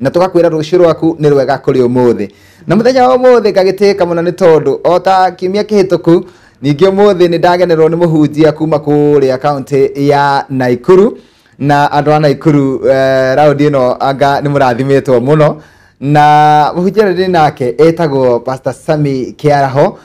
na tũgakwĩra rũciũ rwaku nĩ rwega kũrĩ ũmũthĩ na mũthenya wa ũmũthĩ ngagĩtĩĩka mũno nĩ tondũ o ta kiumia kĩhĩtũku ningĩ ũmũthĩ nĩ ndagenerwo nĩ mũhunjia kuma kũrĩa kaũntĩ ya naikuru na andũ a naikuru eh, raundi ĩno anga nĩ mũrathimĩtwo mũno na mũhunjia ũrĩa ndĩ nake etagwo pastor sami kĩaraho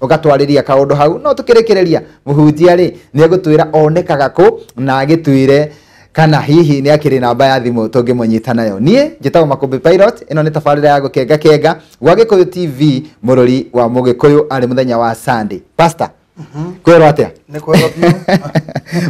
ugatwarĩria kaundu hau no tukirikiriria muhunjia ri ni egutwira onekaga ku na agitwire kana hihi ni akiri namba ya thimu tungimunyita nayo nie njitagwo makumbi pilot ino ni tabarira ya gukenga kenga gwa gikuyu tv mururi wa mugikuyu ari muthenya wa sunday pastor kwirwo atia Nĩ kwega biũ.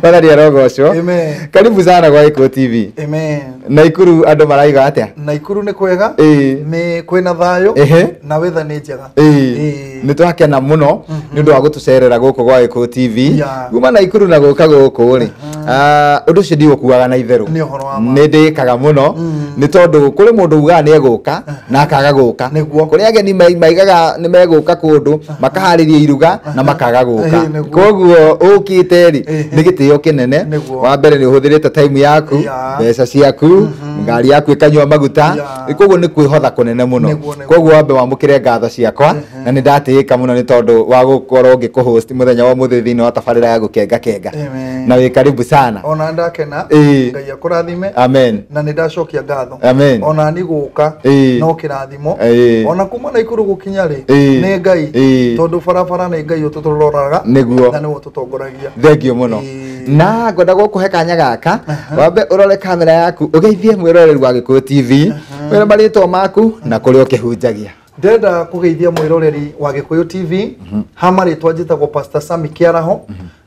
Wathani arogocwo. Amen. Karibu sana kwa Ikuũ TV. Amen. Naikuru andũ maraiga atĩa? Naikuru nĩ kwega. Ĩĩ. Nĩ kwĩna thayũ. Ehe. Na weather nĩ njega. Ĩĩ. Ĩĩ. Nĩ twakena mũno nĩ ũndũ wa gũtũcerera gũkũ gwa Ikuũ TV. Yeah. Kuma Naikuru na gũka gũkũ rĩ. ah, Ũndũ ũcio ndigũkuaga na itherũ. Nĩ ũhoro wa ma. Nĩ ndĩkaga mũno nĩ tondũ kũrĩ mũndũ ugaga nĩ egũka na akaga gũka. Nĩguo. Kũrĩ ageni mai- maigaga nĩ megũka kũndũ makaharĩria iruga na makaga gũka Ĩĩ, nĩguo. koguo ũkĩte rĩ Ĩĩ. nĩ gĩtĩo kĩnene Nĩguo. wa mbere nĩ ũhũthĩrĩte time yaku Ya. mbeca ciaku ngari yaku ĩkanyua maguta Ya. koguo nĩ kwĩhotha kũnene mũno Nĩguo, nĩguo. koguo wambe wamũkĩre ngatho ciakwa na nĩ ndatĩĩka mũno nĩ tondũ wa gũkorwo ngĩkũhost mũthenya wa mũthĩ thĩinĩ wa tabarĩra ya gũkenga kenga Amen. na wĩ karibu sana ona ndakena Ĩĩ. ngai akũrathime amen na nĩ ndacokia ngatho Amen. ona ni gũka Ĩĩ. no kĩrathimo imo Ĩĩ. ona kuma na ikuru gukinya ri Ĩĩ. nĩ ngai Ĩĩ. tondu barabara nĩ ngai uturoraga Nĩguo. na niwe ututongoragia thengio muno Ĩĩ. na ngwenda gũkũhe kanya gaka wambe ũrore kamera yaku ũgeithie mwĩroreri wa gĩkũyũ tv wĩre marĩtwa maku na kũrĩa ũkĩhunjagia ndenda kugeithia mwiroreri wa gikuyu tv ha maritwa njitagwo pastor sami kiaraho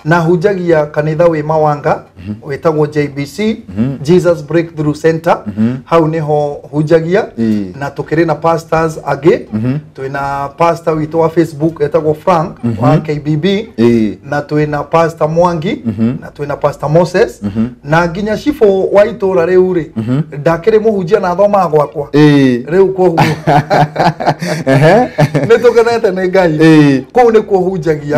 na hunjagia kanitha wĩ mawanga wĩtagwo jbc jesus breakthrough center hau nĩho hunjagia Ii. na tũkĩrĩ na pastors angĩ twĩna pastor witũ wa facebook etagwo frank wa kbb Ii. na twĩna pastor mwangi na twĩna pastor moses na nginya cibũ wa itũra rĩu rĩ ndakĩrĩ mũhunjia na athomaga gwakwa Ii. rĩu kwoguo Ehe. nĩ tũkenete nĩ ngai Ii. kũu nĩkuo hunjagia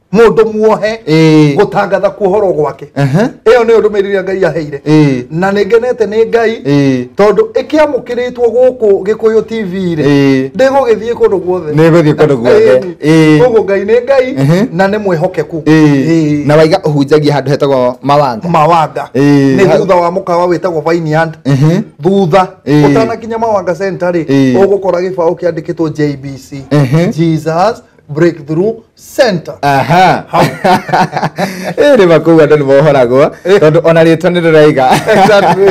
mundu muohe Ĩĩ. gutangatha kuohorwo gwake Ehe. iyo niyo ndumiriri ria ngai aheire Ĩĩ. na ningenete ni ngai Ĩĩ. tondu ikiamukiritwo guku gikuyu tv Ĩĩ. ri ndigugithie kundu guothe Nĩgũthiĩ kũndũ guothe. Ĩĩ. koguo ngai ni ngai Ehe. na ni mwihokeku Ĩĩ. na waiga ũhunjagia handũ hetagwo mawanga mawanga Ĩĩ. nä thutha wa må kawa wä tagwo vineyard Ehe. thutha Ĩĩ. å tanakinya mawanga centa rä Ĩĩ. å gå kora gä baå kä andä kä two jbc Ehe. jesus breakthrough center aha ĩrĩ makũu andũ nĩ mohoragwo tondũ ona rĩtwa nĩ rĩraiga Exactly.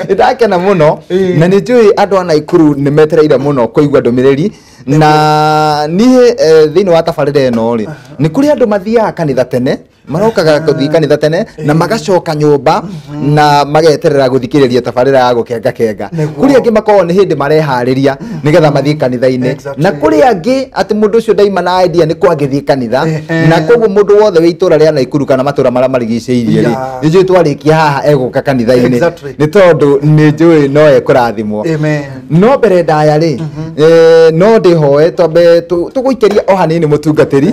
nĩ ndakena mũno Ĩĩ. na nĩ njũĩ andũ a naikuru nĩ metereire mũno kũigua ndũmĩrĩri na niĩ eh, thĩinĩ wa tabarĩra ĩno rĩ nĩ kũrĩ andũ mathiaga kanitha tene marokaga gũthiĩ kanitha tene na magacoka nyũmba na mageterera gũthikĩrĩria tabarĩra ya gũkenga kenga Nĩguo. kũrĩ angĩ makoragwo nĩ hĩndĩ mareharĩria nĩgetha mathiĩ kanitha-inĩ Exactly. na kũrĩ angĩ atĩ mũndũ ũcio ndaima na idea nĩ kwangĩthiĩ kanitha Ehe. na koguo mũndũ wothe wĩ itũra rĩa Naikuru kana matũra marĩa marigicĩirie rĩ Yeah. nĩ njũĩ twarĩkia haha egũka kanitha-inĩ Exactly. nĩ tondũ nĩ njũĩ no ekũrathimwo Amen. no mbere ndaya rĩ eh, no ndĩhoe twambe tũ- tũgũikĩrie o hanini mũtungatĩri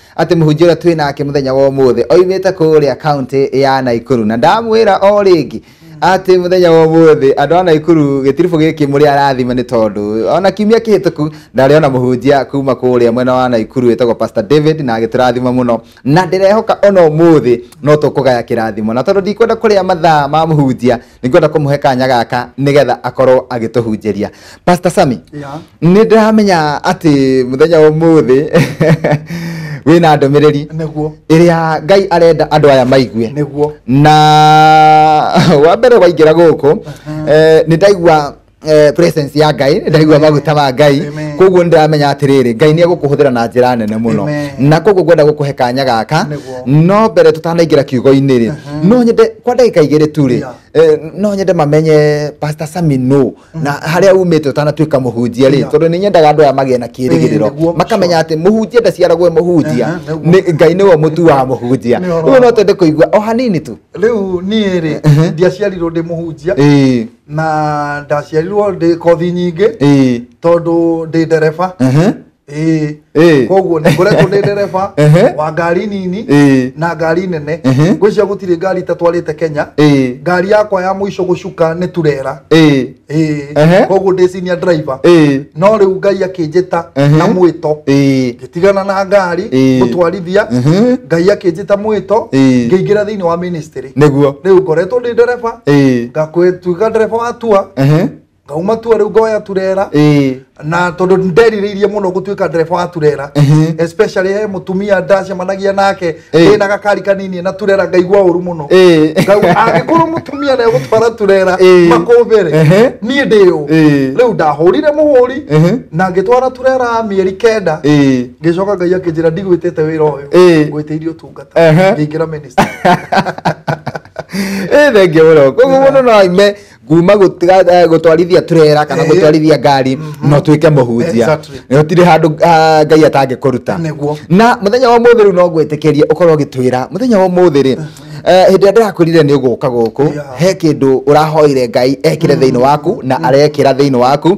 atĩ mũhunjia ũrĩa twĩ nake mũthenya wa ũmũthĩ oimĩte kũrĩa kaunti ya naikuru na ndamwĩra o rĩngĩ atĩ mũthenya wa ũmũthĩ andũ a naikuru gĩtiribũ gĩkĩ mũrĩ arathime nĩ tondũ ona kiumia kĩhĩtũku ndarĩ ona mũhunjia kuma kũrĩa mwena wa naikuru wĩtagwo pastor david na agĩtũrathima mũno na ndĩrehoka ona ũmũthĩ no tũkũgaya kĩrathimo na tondũ ndikwenda kũrĩa mathaa ma mũhunjia nĩngwenda kũmũhe kanya gaka nĩgetha akorwo agĩtũhunjĩria pastor sami Yeah. nĩ ndĩramenya atĩ mũthenya wa ũmũthĩ wĩna ndũmĩrĩri nĩguo ĩrĩa ngai arenda andũ aya maigue nĩguo na wa mbere waingĩra gũkũ eh, nĩ ndaigua eh, presence ya ngai ndaigua maguta ma ngai Amen. koguo ndiramenya atiriri ngai ni egukuhuthira na njira nene muno Amen. na koguo ngwenda gukuhe kanya gaka Nĩguo. no mbere tutanaingira kiugo-inĩ rĩ no nyende kwa ndagĩka igĩrĩ tu rĩ Yeah. eh, no nyende mamenye pastor sami no na harĩa umĩte ũtanatuĩka mũhunjia rĩ Yeah. tondũ nĩ nyendaga andũ aya magĩe na Eh, kĩrĩgĩrĩro nĩguo. makamenya atĩ mũhunjia ndaciaragwo e mũhunjia Aha, nĩguo. Nĩ- ngai nĩwe mũtu wa mũhunjia Nĩ ũhoro rĩu no wa- twende kũigua o hanini tu rĩu niĩ rĩ ndiaciarirwo ndĩ mũhunjia Ĩĩ. na ndaciarirwo ndä kothi nyingä ĩĩ tondå ndä ndereba ehe ĩĩ ĩĩ koguo nä ngoretwo ndä ndereba Ehe. wa ngari nini ĩĩ na ngari nene Ehe. ngwĩcia gũtirĩ ngari itatwarä te kenya ĩĩ ngari yakwa ya mũico gũcuka nĩ turera ĩĩ Ehe. ĩĩ koguo ndä cinia driver ĩĩ no rä u ngai akä njä ta Ehe. na mwä to ĩĩ tigana na ngari Ĩĩ. mũtwarithia Mhm. ngai akĩnjĩta mwĩto Ĩĩ. ngĩingĩra thĩinĩ wa ministry nĩguo rĩu ngoretwo ndĩ ndereba Ĩĩ. ngakwĩtuĩka ndereba wa tua Ehe. ngauma tua rĩu ngoya turera Ĩĩ. na tondũ nderirĩirie mũno gũtuĩka ndereba wa turera Ehe. especially he mũtumia ndacemanagia nake Ĩĩ. ndĩna gakari kanini na turera ngaigua ũru mũno Ĩĩ. Ngau- angĩkorwo mũtumia nĩ egũtwara turera Ĩĩ. makũmbĩre Ehe. niĩ ndĩ ũ Ĩĩ. rĩu ndahũrire mũhũri Ehe. na ngĩtwara turera mĩeri kenda Ĩĩ. ngĩcoka ngai akĩnjĩra ndigwĩtĩte wĩra ũyũ Ĩĩ. ngwĩtĩirie ũtungata Ehe. ngĩingĩra ministry Ĩĩ, thengia mũno koguo mũndũ no aime kuma gũtiga- eh, gũtwarithia turera kana Eh. gũtwarithia ngari no tuĩke mũhunjia Exactly. gũtirĩ handũ ah, ngai atangĩkũruta Nĩguo. na mũthenya wa mũthĩ rĩu no ngwĩtĩkĩrie ũkorwo ũgĩtwĩra mũthenya wa mũthĩ rĩ eh, hĩndĩ ĩrĩa ndĩrakwĩrire nĩ ũgũka gũkũ Yeah. he kĩndũ ũrahoire ngai ekĩre thĩinĩ waku na arekĩra thĩinĩ waku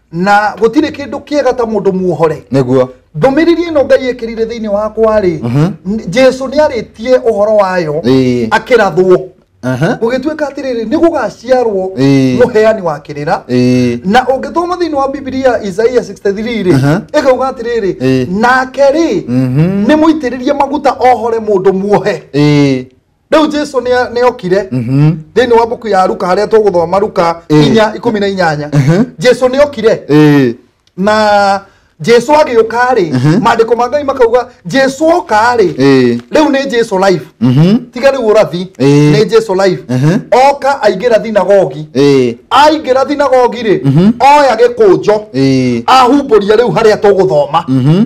na gå tirä kä ndå kä ega ta må ndå muohore niguo ndũmĩrĩri ĩno ngai ĩkĩrire thĩinĩ wakwa-rĩ n- jesu nĩ arĩtie ũhoro wayo Ĩĩ. akĩrathwo Aha. gũgĩtuĩka atĩrĩrĩ nĩ gũgaciarwo Ĩĩ. mũheani wa kĩrĩra Ĩĩ. na ũngĩthoma thĩinĩ wa bibilia isaia 63-rĩ Aha. ĩkauga atĩrĩrĩ Ĩĩ. nake-rĩ Mhm. nĩ mũitĩrĩrie maguta ohore mũndũ muohe Ĩĩ. rĩu jesu nĩ- nĩ okire Mhm. thĩinĩ wa mbuku ya ruka harĩa tũgũthoma ruka Ĩĩ. inya ikũmi na inyanya Mhm. jesu nĩ okire Eh, na jesu agĩũka-rĩ Mhm. maandĩko ma ngai makauga jesu oka-rĩ eh, rĩu nĩ jesu life mhm, tiga rĩu ũrathi Ĩĩ. nĩ jesu life Mhm. oka aingĩra thinagogi eh, aingĩra thinagogi-rĩ Mhm. oya gĩkũnjo eh, ahumbũria rĩu harĩa tũgũthoma mhm.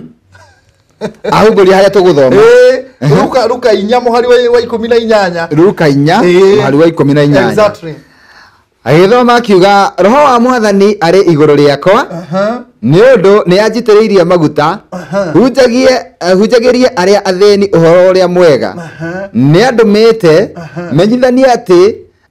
ahumburia haria tuguthoma Eh, ruka ruka inya muhari wa wa ikumi na inyanya ruka inya Eh. mũhari wa ikũmi na inyanya Exactly. agĩthoma akiuga roho wa mwathani arĩ igũrũ rĩakwa Aha. nĩ ũndũ nĩ anjitĩrĩirie maguta hunjagie eh, hunjagĩrie arĩa athĩni ũhoro ũrĩa mwega Aha. nĩ andũmĩte menyithanie atĩ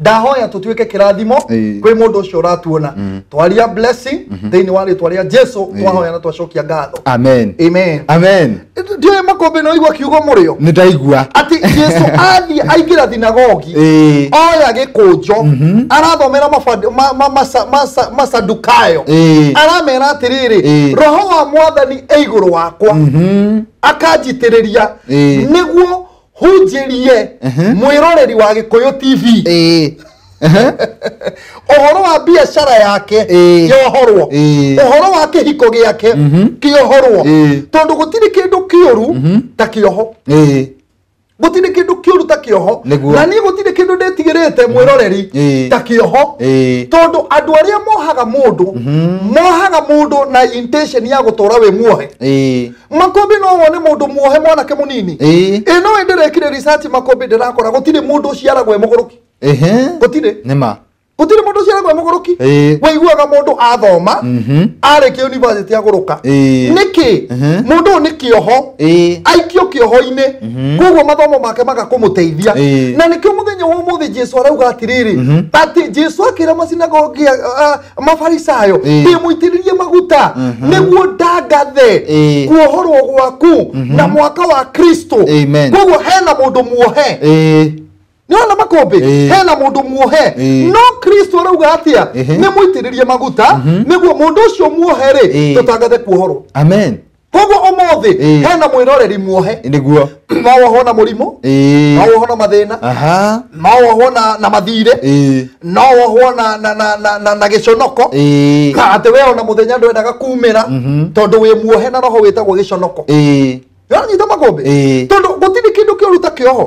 ndahoya tũtuĩke kĩrathimo Ĩĩ. kwĩ mũndũ ũcio ũratuona twaria blessing thĩinĩ wa rĩtwa rĩa jesu twahoya na twacokia ngatho amen amen amen ndiũĩ makũmbĩ no igua kiugo mũrĩo nĩ ndaigua atĩ jesu athiĩ aingĩra thinagogi Ĩĩ. oya gĩkũnjo arathomera mabandi- ma- ma- masa- masa- masadukayo Ĩĩ. aramera atĩrĩrĩ Ĩĩ. roho wa mwathani e igũrũ wakwa akanjitĩrĩria Ĩĩ. nĩguo hunjĩrie mwĩroreri wa gĩkũyũ tv Ĩĩ. Ehe. ũhoro wa biacara yake Ĩĩ. kĩohorwo Ĩĩ. ũhoro wa kĩhiko gĩake kĩohorwo Ĩĩ. tondũ gũtirĩ kĩndũ kĩũru ta kĩoho Ĩĩ. gũtirĩ kĩndũ kĩũru ta kĩoho Nĩguo. na niĩ gũtirĩ kĩndũ ndĩtigĩrĩte mwĩroreri Ĩĩ. ta kĩoho Ĩĩ. tondũ andũ arĩa mohaga mũndũ mohaga mũndũ na intention ya gũtũra wĩ muohe Ĩĩ. makũmbĩ no wone mũndũ muohe mwanake mũnini Ĩĩ. ĩno ĩ ndĩrekire research makũmbĩ ndĩrakora gũtirĩ mũndũ ũciaragwo e mũgũrũki ehe gũtirĩ nĩ ma gũtirĩ mũndũ ũciaragwo e mũgũrũki Ĩĩ. waiguaga mũndũ athoma Mhm. arĩkia university agũrũka Ĩĩ. nĩkĩ Mhm. mũndũ ũyũ nĩ kĩoho Ĩĩ. aikio kĩoho-inĩ koguo mathomo make magakũmũteithia Ĩĩ. na nĩkĩo mũthenya wa ũmũthĩ jesu arauga atĩrĩrĩ atĩ jesu akĩra macinagogi a- a- mafarisayo Ĩĩ. ndĩmũitĩrĩrie maguta nĩguo ndangathe Ĩĩ. kuohorwo gwaku na mwaka wa kristo Amen. koguo hena mũndũ muohe Ĩĩ. nĩwona makũmbĩ Ĩĩ. hena mũndũ muohe Ĩĩ. no kristo arauga atĩa Ĩhĩ. nĩmũitĩrĩrie maguta nĩguo mũndũ ũcio muohe-rĩ Ĩĩ. tũtangathe kuohorwo amen koguo ũmũthĩ Ĩĩ. hena mwĩroreri muohe niguo no wohwo na mũrimũ no ĩĩ wohwo na mathĩna aha no wohwo na, na mathirĩ ĩĩ no wohwo na, na, na, na, na, na gĩconoko ĩĩ na atĩ we ona mũthenya ndwendaga kumĩra tondũ wĩ muohe na roho wĩtagwo gĩconoko ĩĩ nĩwanyita makũmbĩ Ĩĩ. tondũ gũtirĩ kĩndũ kĩũru ta kĩoho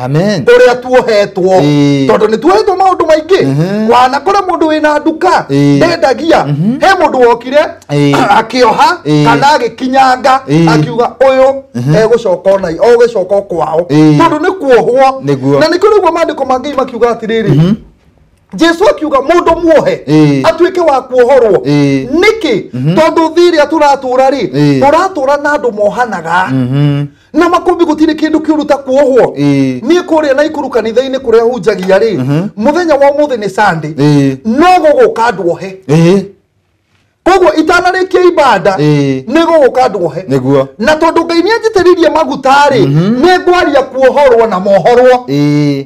amen ũrĩa tuohetwo Ĩĩ. tondũ nĩ tuohetwo maũndũ maingĩ Mhm. wana kũrĩ mũndũ wĩna nduka Ĩĩ. ndendagia he mũndũ wokire Ĩĩ. akĩoha Ĩĩ. kana agĩkinyanga Ĩĩ. akiuga ũyũ egũcoka ona ũgĩcoka o kwao Ĩĩ. tondũ nĩ kuohwo Nĩguo. na nĩkĩo rĩguo maandĩko mangĩ makiuga atĩrĩrĩ jesu akiuga mũndũ muohe Ĩĩ. atuĩke wa kuohorwo Ĩĩ. nĩkĩ tondũ thĩ ĩrĩa tũratũra rĩ Ĩĩ. tũratũra na andũ mohanaga Mhm. na makumbi gũtirĩ kĩndũ kĩũru ta kuohwo Ĩĩ. niĩ kũrĩa na ikuru kanitha-inĩ kũrĩa hunjagia rĩ mũthenya wa ũmũthĩ nĩ sande Ĩĩ. no gũgũka andũ ohe Ĩĩ. koguo itanarĩkia ibanda Ĩĩ. nĩ gũgũka andũ ohe Nĩguo. na tondũ ngai nĩ anjitĩrĩirie maguta rĩ nĩ ngwaria kuohorwo na mohorwo Ĩĩ.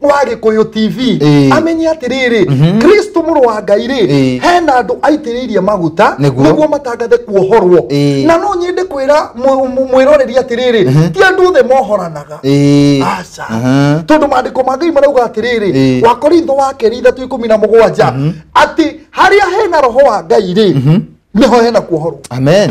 wa gikuyu tv Ĩĩ. amenye atiriri kristo mũrũ wa ngai rĩ Ĩĩ. hena andũ aitĩrĩirie maguta Nĩguo. nĩguo matangathe kuohorwo Ĩĩ. na no nyende kwĩra mũ- mũ- mwĩroreri atirĩrĩ ti andũ othe mohoranaga Ĩĩ. aca Aha. tondå mandäko ma ngai marauga atä rä rä Ĩĩ. wakorintho wa kerä ithatå ikå mi na må gwanja atä harä a hena roho wa ngai rä nä ho hena kuohorwo amen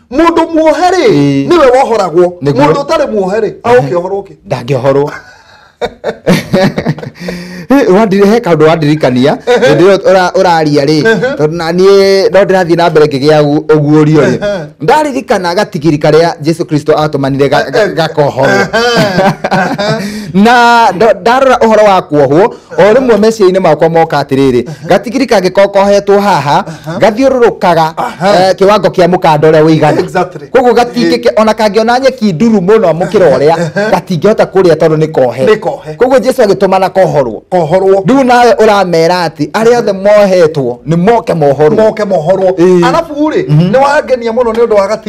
mundu muohe ri Ĩĩ. niwe wohoragwo Nĩguo. mundu utari muohe ri aukiohorwo ki ndangĩohorwo Wandiri- he kaũndũ wandirikania hĩndĩ ĩyo ũra- ũraria rĩ tondũ na niĩ no ndĩrathiĩ na mbere ngĩgĩa ũgu- ũguũrio rĩ Ehe. ndaririkana gatigiri karĩa jesu kristo atũmanire ga- ga- gakohorwo na ndo- ndarora ũhoro wa kuohwo o rĩmwe meciria-inĩ makwa moka atĩrĩrĩ gatigiri kangĩkorwo kohetwo haha gathiũrũrũkaga eh, kĩwango kĩa mũkanda ũrĩa ũigana Exactly. koguo gatingĩke ona kangĩona nyeki nduru mũno mũkĩra ũrĩa gatingĩhota kũrĩa tondũ nĩ kohe Nĩ kohe. koguo jesu agĩtũmana kohorwo kohorwo rĩu nawe ũramera atĩ arĩa othe mohetwo nĩ moke mohorwo moke mohorwo Ĩĩ. arabu rĩ nĩ wangenia mũno nĩ ũndũ wa gati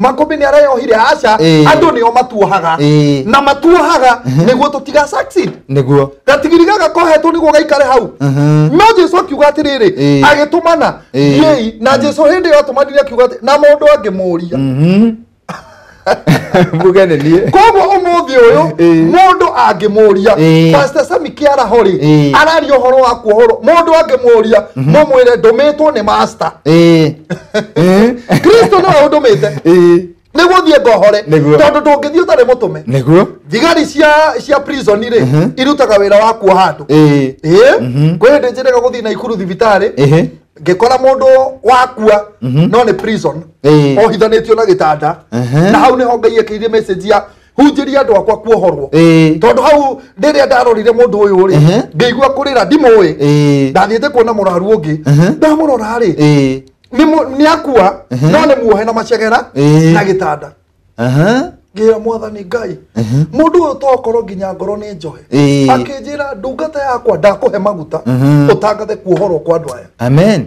makũmbĩ nĩ arayohire aca Ĩĩ. andũ nĩo matuohaga Ĩĩ. na matuohaga nĩguo tũtiga succeed nĩguo gatigiri gaka kohetwo nĩguo gaikare hau Mhm. no jesu akiuga atĩrĩrĩ Ĩĩ. agĩtũmana Ĩĩ. thiei na jesu hĩndĩ ĩyo atũmanire akiuga atĩ- na mũndũ angĩmũria Mhm. mbuge nĩ niĩ koguo ũmũthĩ ũyũ Ĩĩ. mũndũ angĩmũria Ĩĩ. pastor sami kĩaraho rĩ Ĩĩ. araria ũhoro wa kuohorwo mũndũ angĩmũria mũmwĩre ndũmĩtwo nĩ master Ĩĩ. kristo nĩwe ũndũmĩte Ĩĩ, nĩguo thiĩ ngohore Nĩguo. tondũ ndũngĩthiĩ ũtarĩ mũtũme nĩguo thigari cia cia prison rĩ irutaga wĩra wa kuoha andũ Ĩĩ, ĩĩ kwĩ hĩndĩ njĩrega gũthiĩ na ikuru thibitarĩ ĩhĩ, ngĩkora mũndũ wakua no nĩ prison Ĩĩ. ohithanĩtio na gĩtanda Ehe. na hau nĩho ngai ekĩire message ya hunjĩria andũ akwa kuohorwo Ĩĩ. tondũ hau rĩrĩa ndarorire mũndũ ũyũ rĩ Ehe. ngĩigua kũrĩra ndimũĩ Ĩĩ. ndathiĩte kuona mũraru ũngĩ Ehe. ndamũrora rĩ Ĩĩ. nĩ mũ- nĩ akua Ehe. no nĩ muohe na macegera Ĩĩ. na gĩtanda Aha. ngĩra mwathani ngai mũndũ ũyũ tokorwo nginya ngoro nĩ njohe Ĩĩ. akĩnjĩra ndungata yakwa ndakũhe maguta Ehe. ũtangathe kuohorwo kwa andũ aya Amen.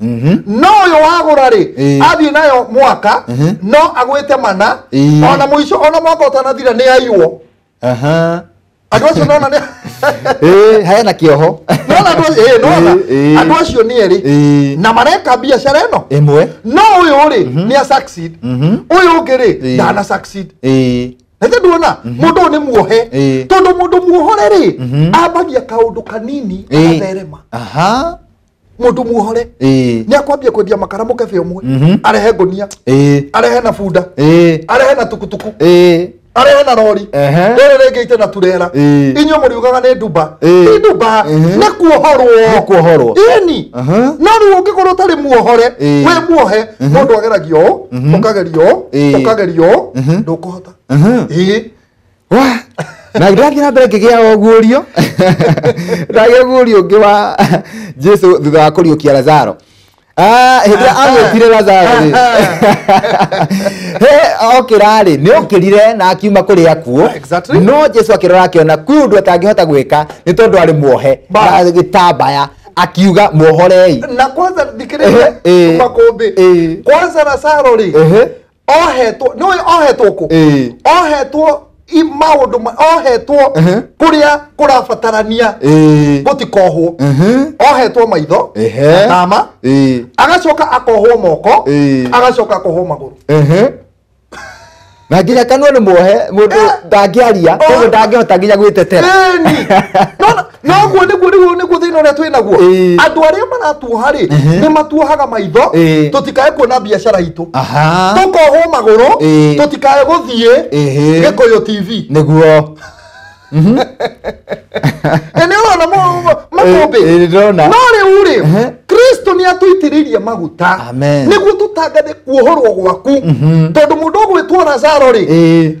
Mhm. no uyu wagura ri Ĩĩ. athiĩ nayo mwaka Mhm. no agwĩte mana Ĩĩ. ona mũico ona mwaka ũtanathira nĩ aiywo Aha. andũ acio nona nĩ Ĩĩ, hena kĩoho nona andũ acio- ĩĩ, nona Ĩĩ, ĩĩ. andũ acio nĩ erĩ Ĩĩ. na mareka biacara ĩno ĩmwe no ũyũ rĩ nĩ a succeed Mhm. ũyũ ũngĩ rĩ Ĩĩ. ndana succeed Ĩĩ. nake nduona mũndũ ũyũ nĩ muohe Ĩĩ. tondũ mũndũ muohore rĩ ambagia kaũndũ kanini Ĩĩ. agatherema aha mundu muohore Eh. ni akwambia kwendia makara mukebe umwe Mhm. arehe ngunia Eh. arehe na bunda Eh. arehe na tukutuku Eh. arehe na rori Ehe. rere rĩngĩ ite na turera Eh. inyuĩ mũriugaga nĩ ndumba Eh. ti ndumba Ehe. nĩ kuohorwo Nĩ kuohorwo. ini Aha. no rĩu ũngĩkorwo ũtarĩ muohore Eh. wĩ muohe mũndũ ageragio ũũ, ũkagerio ũũ, Eh. ũkagerio ũũ, Mhm. ndũkũhota Aha. ĩĩ wa na ndathiĩ na mbere ngĩgĩa oguũrio ndagĩa guũrio ũngĩ wa jesu thutha wa kũriũkia lazaro Ah, hĩndĩ ĩrĩa agwĩtire lazaro rĩ he okĩra rĩ nĩ okĩrire na akiuma kũrĩ akuo Exactly. no jesu akĩrora akĩona kwĩ ũndũ atangĩhota gwĩka nĩ tondũ arĩ muohe Ba. na gĩtambaya akiuga muohorei na kwanza Ehe, eh. thikĩrĩria makũmbĩ Eh. kwanza na saro rĩ Ehe. ohetwo nĩ ũĩ ohetwo kũ Ĩĩ. ohetwo i- maũndũ ma- ohetwo Ehe. kũrĩa kũrabatarania Ĩĩ. gũtikohwo Ehe. ohetwo maitho Ehe. atama Ĩĩ. agacoka akohwo moko Ĩĩ. agacoka akohwo magũrũ Ehe. na nginya kanua nĩ muohe mũndũ Eh. ndangĩaria koguo ndangĩhota nginya gwĩtetera Ĩni. Nona- noguo nĩguo nĩguo nĩguo thĩna ũrĩa twĩ naguo Ĩĩ. andũ arĩa maratuoha rĩ Ehe. nĩ matuohaga maitho Ĩĩ. tũtikae kuona biacara itũ aha tũkohwo magũrũ Ĩĩ. tũtikae gũthiĩ Ĩhĩ. gĩkũyũ tv nĩguo na nĩ ũrona mo- mo- makũmbĩ Ĩĩ, ĩĩ, ndĩrona. no rĩu rĩ Ehe. kristo nĩ atũitĩrĩirie maguta Amen. nĩguo tũtangathe kuohorwo gwaku tondũ mũndũ ũgwĩtwo lazaro rĩ Ĩĩ.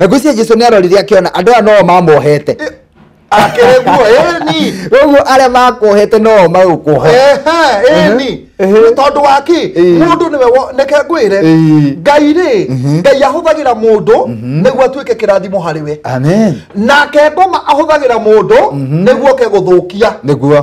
na ngwĩciria jesu nĩ arorire akĩona andũ aya noo mamohete akereguo eni ũguo arĩa makuohete noo magũkuoha Ehe, eni Ehe. nĩ tondũ wa kĩ Ĩĩ. mũndũ nĩwe wo- neke ngwĩre Ĩĩ. ngai rĩ ngai ahũthagĩra mũndũ nĩguo atuĩke kĩrathimo harĩ we amen nake ngoma ahũthagĩra mũndũ nĩguo oke gũthũkia nĩguo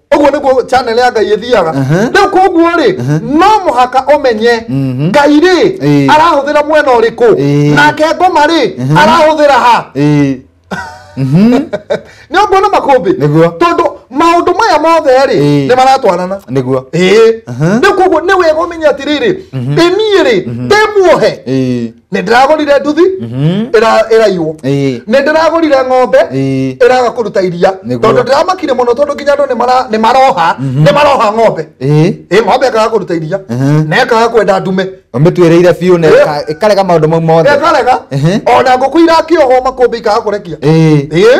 ũguo nĩguo channel ya ngai ĩthiaga Aha. rĩu koguo rĩ no mũhaka ũmenye ngai rĩ Ĩĩ. arahũthĩra mwena ũrĩkũ Ĩĩ. nake ngoma rĩ arahũthĩra ha Ĩĩ. nĩ ũguo na makũmbĩ Nĩguo. tondũ maũndũ maya mothe rĩ Ĩĩ. nĩ maratwarana nĩguo ĩĩ Aha. rĩu koguo nĩ wega ũmenye atĩrĩrĩ ĩniĩ rĩ ndĩmuohe Ĩĩ. nä ndä ragårire nduthi ĩra- ĩraiywo Ĩĩ. nä ndä ragårire ng'ombe Ĩĩ. ĩraga kå ruta iria Nĩguo. tondå ndä ramakire må no tondå nginya andå nĩ mara- nĩ maroha nĩ maroha ng'ombe Ĩĩ. ä ng'ombe ĩkaga kå ruta iria Mhm. na ĩkaga kwenda ndume ũmĩtuĩrĩire biũ na Ĩĩ. ĩka- ĩkarega maũndũ mau mothe ĩkarega Ehe. ona ngũkũ irakĩohwo makũmbĩ ikaga kå rekia Ĩĩ. ä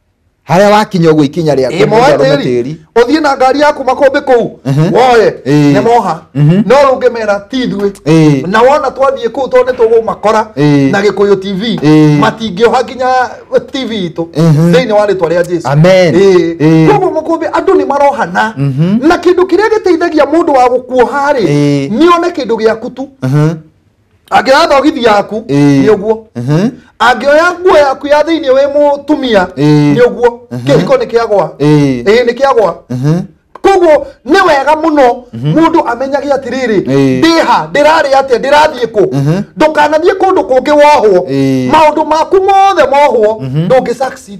harĩa wakinya ũguo ikinya rĩaku mũndũ ĩmoe arũme tĩri tĩri ũthiĩ na ngari yaku makũmbĩ kũu Mhm. woye Ĩĩ. nĩ moha Mhm. no rũngĩmera ti ithuĩ Ĩĩ. na wona twathiĩ kũu tondũ nĩ tũgũmakora Ĩĩ. na gĩkũyũ tv Ĩĩ. matingĩoha nginya tv itũ Mhm. thĩinĩ wa rĩtwa rĩa jesu Amen. Ĩĩ. Ĩĩ. koguo makũmbĩ andũ nĩ marohana Mhm. na kĩndũ kĩrĩa gĩteithagia mũndũ wa gũkuoha rĩ Ĩĩ. nĩone kĩndũ gĩaku tu Mhm. angĩoya thogithi yaku Ĩĩ. nĩ ũguo Mhm. angĩoya nguo yaku ya thĩinĩ wĩ mũtumia Ĩĩ. nĩ ũguo kĩhiko nĩ kĩagwa Ĩĩ. ĩĩ nĩ kĩagwa Mhm. koguo nĩ wega mũno mũndũ amenyage atĩrĩrĩ Ĩĩ. ndĩha ndĩrarĩ atĩa ndĩrathiĩ kũ Mhm. ndũkanathiĩ kũndũ kũngĩ wohwo Ĩĩ. maũndũ maku mothe mohwo ndũngĩ succeed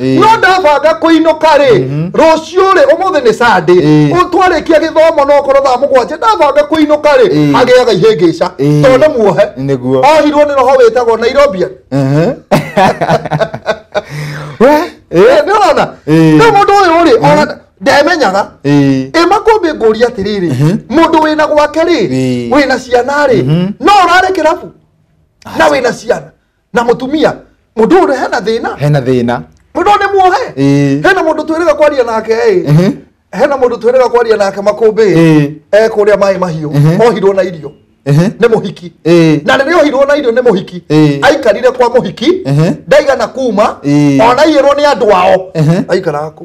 Ĩĩ. no ndabanga kũinũka rĩ Mhm. rũciũ rĩ ũmũthĩ nĩ sande Ĩĩ. twarĩkia gĩthomo no korwo thaa mũgwanja ndabanga kũinũka rĩ Ĩĩ. hagĩaga ihĩngĩca Ĩĩ. tondũ muohe Nĩguo. ohirwo nĩ roho wĩtagwo nairobia Ehe. We, eh, nĩ ũrona Ĩĩ. rĩu mũndũ ũyũ rĩ ona ndemenyaga eh, ĩ makũmbĩ ngũria atĩrĩrĩ Mhm. mũndũ wĩna gwake rĩ Ĩĩ. wĩna ciana rĩ Mhm. no ũrare kĩrabu na wĩna ciana na mũtumia mũndũ ũrĩa hena thĩna hena thĩna mũndũ nĩ muohe Ĩĩ. hena mũndũ twĩrĩga kwaria nake ĩ Mhm. hena mũndũ twĩrĩga kwaria nake makũmbĩ Ĩĩ. e kũrĩa maĩ mahiũ Mhm. ohirwo na irio Mhm. nĩ mũhiki Ĩĩ. na rĩrĩa ohirwo na irio nĩ mũhiki Ĩĩ. aikarire kwa mũhiki Mhm. ndaigana kuma Ĩĩ. ona iyĩrwo nĩ andũ ao Mhm. aikaraga kũ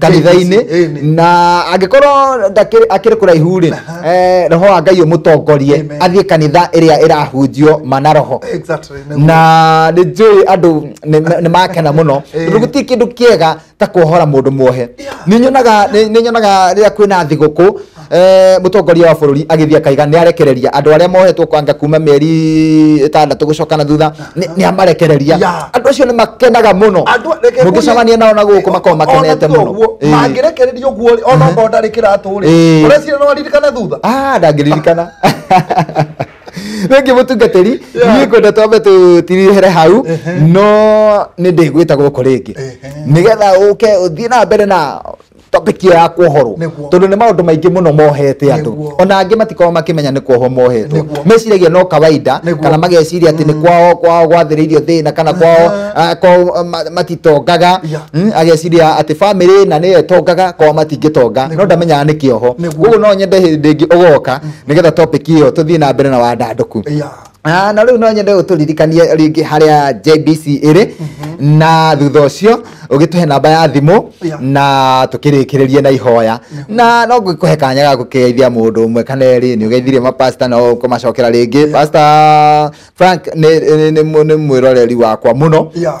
kanitha-inĩ Ĩnĩ. na angĩkorwo ndakĩrĩ- akĩrĩ kũraihu rĩ eh, roho wa ngai ũmũtongorie Amen. athiĩ kanitha ĩrĩa ĩrahunjio mana roho Exactly, nĩguo. na nĩ njũĩ andũ nĩ- nĩ makena mũno Ĩĩ. tondũ gũtirĩ kĩndũ kĩega ta kuohora mũndũ muohe Yeah. nĩ nyonaga nĩ- nĩ nyonaga rĩrĩa kwĩna thigũkũ Eh, mutongoria wa bururi agithia kaiga ni arekereria andu aria mohetwo kwanga kuma mieri itandatå gå coka na thutha ni amarekereria Yeah. andu acio ni makenaga muno Andũ- reke mungicemania nao na gå kå makorwo makenete Ona muno guo, Eh. mangĩrekereria ũguo rĩ ona okorwo ndarĩ kĩratũ rĩ Eh. ũrecira no aririkana thutha Ah, ndangĩririkana rĩngĩ mũtungatĩri Yeah. niĩ kwenda twambe tũtirihere hau no nĩ ndĩgwĩta gũkũ rĩngĩ nĩgetha ũke ũthiĩ na mbere na topic ya kuohorwo Nĩguo. tondu ni maundu maingi muno mohete andu Nĩguo. ona angi matikorwo makimenya ni kuohwo mohetwo Nĩguo. meciragia no kawaida Nĩguo. kana mageciria ati ni kwao kwao gwathiriirio thina kana kwao Ah. ah, kwao ma- matitongaga Yeah. Mm, ageciria ati family na niyo itongaga kwao matingitonga no ndamenyaga ni kioho Nĩguo. koguo no nyende hindi ingi ugoka nigetha topic iyo tuthii na mbere na wandanduku Yeah. Ah, na rĩu no nyende ũtũririkanie rĩngĩ harĩa JBC ĩrĩ na thutha ũcio ũgĩtũhe namba ya thimũ Yeah. na tũkĩrĩkĩrĩrie na ihoya na no ngũkũhe kanya ga gũkĩgeithia mũndũ ũmwe kana erĩ nĩ ũgeithirie mapasta no kũmacokera rĩngĩ pasta Frank nĩ- nĩ nĩ- nĩ mwĩroreri wakwa mũno Yeah.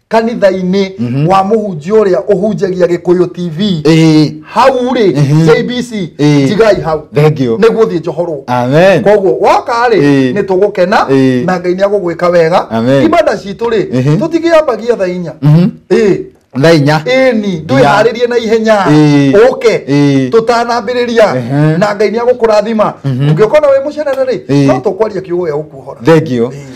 kanitha-inĩ Mhm. wa mũhunjia ũrĩa ũhunjagia gĩkũyũ tv Ĩĩ. hau rĩ Mhm. jbc Ĩĩ. njigai hau Thengiũ. nĩguo thiĩ njohorwo Amen. koguo woka rĩ Ĩĩ. nĩ tũgũkena Ĩĩ. na ngai nĩ agũgwĩka wega Amen. ibada citũ rĩ Mhm. tũtigĩambagia tha inya Mhm. Ĩĩ. Thaa inya. ĩni ndwĩharĩrie na ihenya Ĩĩ. ũke Ĩĩ. tũtanambĩrĩria Ehe. na ngai nĩ agũkũrathima ũngĩũkona wĩ mũcenere rĩ Ĩĩ. no tũkwaria kiugo gĩa gũkuohora Thengiũ. Ĩĩ.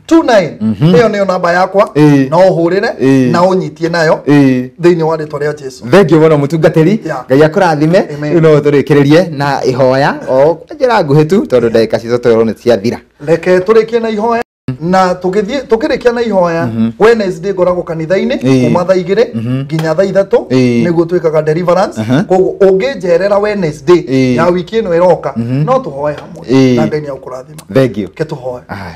29 ĩyo nĩyo namba yakwa Ĩĩ. na ũhũrĩre Ĩĩ. na ũnyitie nayo Ĩĩ. thĩinĩ wa rĩtwa rĩa jesu thengio mũno mũtungatĩri Yeah. ngai akũrathime Amen. rĩu no tũrĩkĩrĩrie na ihoya o kwa njĩra nguhĩ tu tondũ ndagĩka citũ twerwo nĩ ciathira reke tũrĩkie na ihoya na tũgĩthiĩ tũkĩrĩkia na ihoya wednesday ngoragwo kanitha-inĩ Ĩĩ. kuma thaa igĩrĩ nginya thaa ithatũ Ĩĩ. nĩguo twĩkaga deliverance Aha. koguo ũngĩnjerera wednesday Ĩĩ. ya wiki ĩno ĩroka no tũhoe hamwe Ĩĩ. na ngai nĩ agũkũrathima thengio ke tũhoe Aye.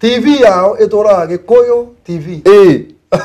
TV yao ĩtũraga Gĩkũyũ TV. Ĩĩ.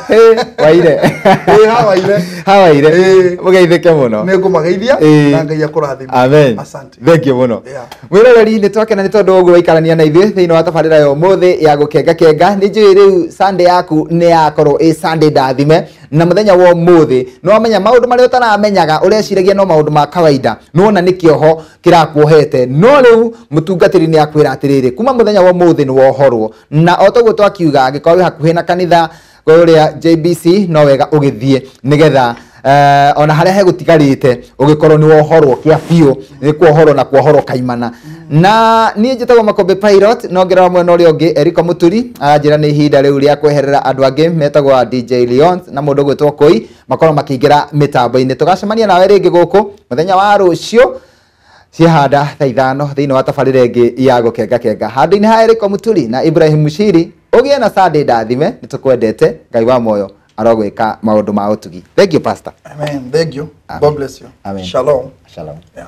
Ĩĩ, waire. Ĩĩ, hawaire. Hawaire. Ĩĩ. Mũgeithĩke mũno. Nĩ ngũmageithia Ĩĩ. na Ngai akũrathime. Amen. Asante. Thengiũ mũno. Yeah. Mwĩroreri nĩ twakena nĩ tondũ ũguo waikarania na ithuĩ thĩinĩ wa tabarĩra ya ũmũthĩ ya gũkengakenga nĩ njũĩ rĩu sande yaku nĩ yakorwo ĩ sande ndathime na mũthenya wa ũmũthĩ nĩ wamenya maũndũ marĩa ũtaramenyaga ũreciragia no maũndũ ma kawaida nĩ wona nĩ kĩoho kĩrakuohete no rĩu mũtungatĩri nĩ akwĩra atĩrĩrĩ kuma mũthenya wa ũmũthĩ nĩ wohorwo na o toguo twakiuga angĩkorwo wĩ hakuhĩ na kanitha ũrĩa JBC no wega ũgĩthiĩ nĩgetha uh, ona harĩa hegũtigarĩte ũgĩkorwo nĩ wohorwo kĩa biũ nĩ kuohorwo na kuohorwo kaimana na niĩ njĩtagwo makombe pilot no ngĩrora mwena ũrĩa ũngĩ eriko mũturi anjĩra nĩ ihinda rĩu rĩa kweherera andũ angĩ metagwo a dj leons na mũndũ ũgwĩtwo koi makorwo makĩingĩra mĩtambo-inĩ tũgacemania nawe rĩngĩ gũkũ mũthenya wa rũciũ ciehanda thaa ithano thĩinĩ wa tabarĩra ĩngĩ ya gũkenga kenga handũ-inĩ ha erĩko mũturi na ibrahim mushiri ũgĩe na sande ndathime nĩ tũkwendete ngai wa moyo arogwĩka maũndũ ma ũtugi thengio pastor Amen. Thank you. Amen. God bless you. Amen. Shalom. shalom Yeah.